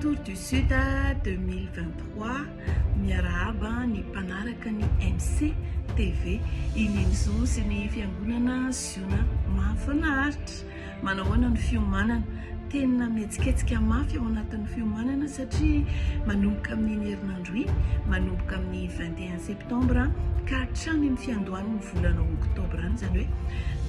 Tour du Sud 2023 Miarahaba ny mpanaraka ny MC TV Iny Enzo sy ny fiangonana Ziona Mahafinaritra Manao ahoana ny fiomanana Tena mihetsiketsika mafy ao anatin'ny fiomanana satria manomboka amin'iny herinandro iny manomboka amin'ny 21 septambra ka hatrany amin'ny fiandohan'ny volana oktobra any izany hoe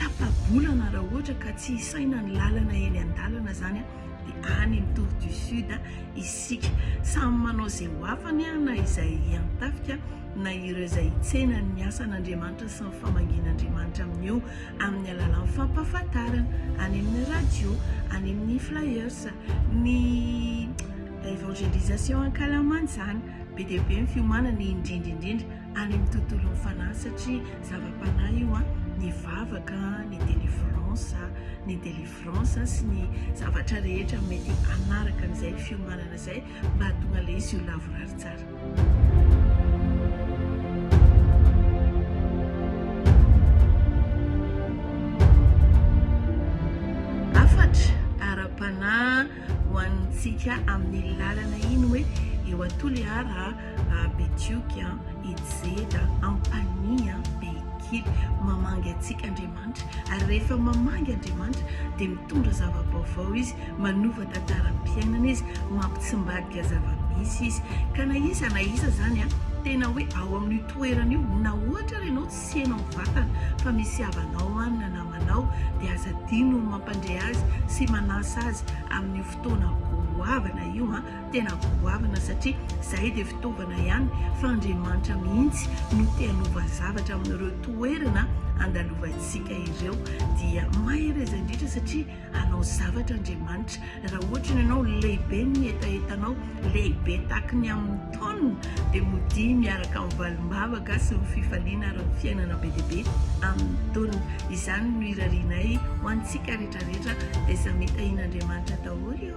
tapa-bolana raha ohatra ka tsy saina ny lalana eny andalana zany dia any ny tour du sud isika samy manao izay ho afany na izay hiantafika na ireo izay hitsena ny asan'andriamanitra sy ny famangin'andriamanitra amin'io amin'ny alalan'ny fampahafantarana any amin'ny radio any amin'ny flyers ny évangélisation ankalamanjana be dia be ny fiomanana indrindra indrindra any amin'ny tontolon'ny fanahy satria zava-panahy io an, ny vavaka, ny délivrance, ny délivrance sy ny zavatra rehetra mety hanaraka an'izay fiomanana izay mba hahatonga ilay izy ho lavorary tsara. ho antsika amin'iny lalana iny hoe eo Toliara Betioky Ijeda Ampanihy Behikiry mamangy antsika Andriamanitra ary rehefa mamangy Andriamanitra dia mitondra zava-baovao izy manova tantaram-piainana izy mampitsimbadika zava-misy izy ka na iza na iza izany tena hoe ao amin'io toerana io na ohatra ary ianao tsy heno amin'ny vatana fa misy havanao any na namanao dia aza adino ny mampandre azy sy manasa azy amin'io fotoana goavana io an, tena goavana satria zahay dia fitaovana ihany fa Andriamanitra mihitsy no te hanova zavatra amin'ireo toerana andalovantsika ireo dia mahereza indrindra satria Hanao zavatra Andriamanitra. Raha ohatra ianao lehibe ny hetahetanao, lehibe tahaka ny amin'ny taonina, dia modia miaraka amin'ny valim-bavaka sy ny fifaliana ary ny fiainana be dia be amin'ny taonina. Izany no irarianay ho antsika rehetrarehetra, dia samy tahin'Andriamanitra daholo io.